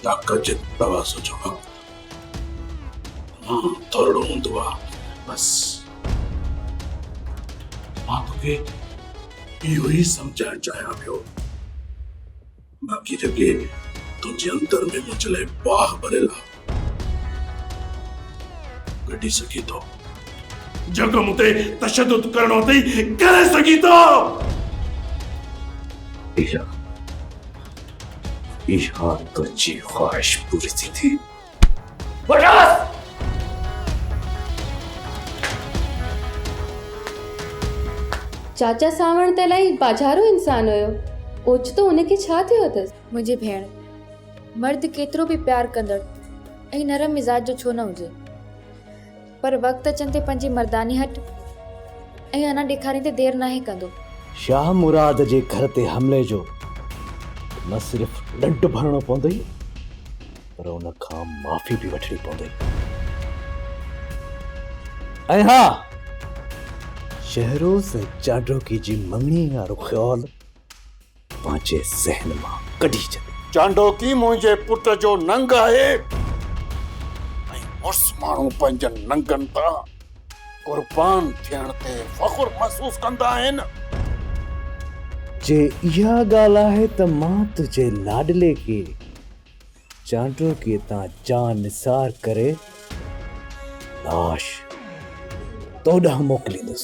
ڪجهه دوا سوچو وقت تمام ٿورڙو هوندو آ بس مان توکي اهو ئي سمجهائڻ چاهيان پيو باقي جيڪي تنهنجي اندر ۾ منهنجي لاء باهه ڀريل آ ڪڍي سگهين ٿو جيڪو مون تي تشدد ڪرڻو اٿئي ڪري سگهين ٿو ايشا اها تنهنجي خواهش پوري ٿيندي. وٺاس! چاچا سانوڻ ته الائي ٻاجهارو انسان هيو، اوچتو ان کي ڇا ٿيو اٿس؟ منهنجي ڀيڻ، مرد ڪيترو به پيار ڪندڙ ۽ نرم مزاج جو ڇو نه هجي، پر وقت اچڻ تي پنهنجي مرداني هٺ ۽ هنر ڏيکارين تي دير ناهي ڪندو. شاهه مراد جي گهر تي حملي جو نه صرف ڏنڊ ڀرڻو پوندئي پر ان کان معافي به وٺڻي پوندئي ۽ ها شهروز ۽ چاڊوڪي جي مڱڻي وارو خيال پنهنجي ذهن مان ڪڍي ڇڏي. چانڊوڪي منهنجي پٽ جو ننگ آهي ۽ مڙس ماڻهو پنهنجن ننگن تان قربان ٿيڻ تي فخر محسوس ڪندا آهن. جي اها ڳالهه آهي ته مان تنهنجي لاڏلي کي چانڊوڪي تان جان نثار ڪري لاش تو ڏانهن موڪليندس.